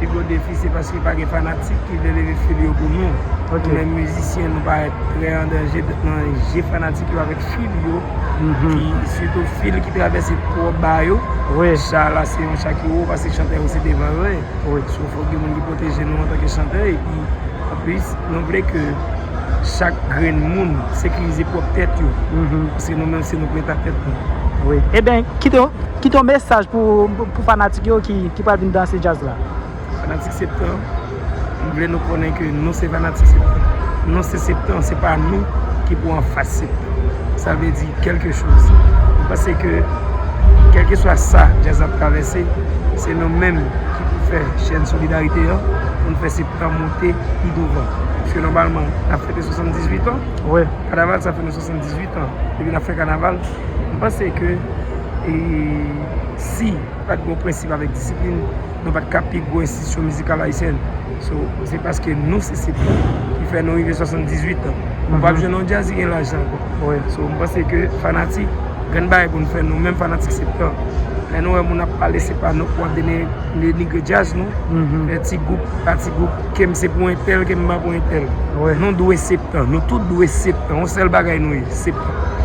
Pi gwo defi se paske pa gen fanatik ki vle leve fil yo pou nou. Nou menm mizisyen nou parèt trè an danje nan je fanatik yo avèk fil yo ki sitou fil ki travèse twò ba yo. Cha la se yon cha ki wo pase chantè yo se devan yo ye. So fòk gen moun ki pwoteje nou antanke chantè epi anplis nou vle ke chak grenn moun sekirize pwòp tèt yo paske nou menm se nou preta tèt nou. Wi eben kite yo. Kit yon mesaj pou fanatik yo ki pral vin danse djaz la. Fanatik septan, m vle nou konnen ke nou se fanatik septan. Nou se septan, se pa nou ki pou anfas septan. Sa vle di kelke choz. M panse ke kelke swa sa djaz la ap travèse, se nou menm ki pou fè chèn solidarite an pou n fè septan monte pi douvan. Pske nòmalman, n ap fete 78 an. Kanaval sa fè nou 78 an depi n ap fè kanaval. M panse ke si pat gen prensip avèk disiplin, nou pat ka pi gwo enstitisyon mizikal ayisyen. So, se paske nou se sip la ki fè nou rive 78 an. Ou pap jwenn yon djaz ki gen laj sa ankò. So, m panse ke fanatik, grenn bagay pou nou fè nou menm fanatik sip la, lè nou wè moun ap pale se pa nou pou ap denigre djaz nou, fè ti gwoup, pa ti gwoup, ke m se pou entèl, ke m pa pou entèl. Nou dwe sip la. Nou tout dwe sip la. Yon sèl bagay nou ye, sip la.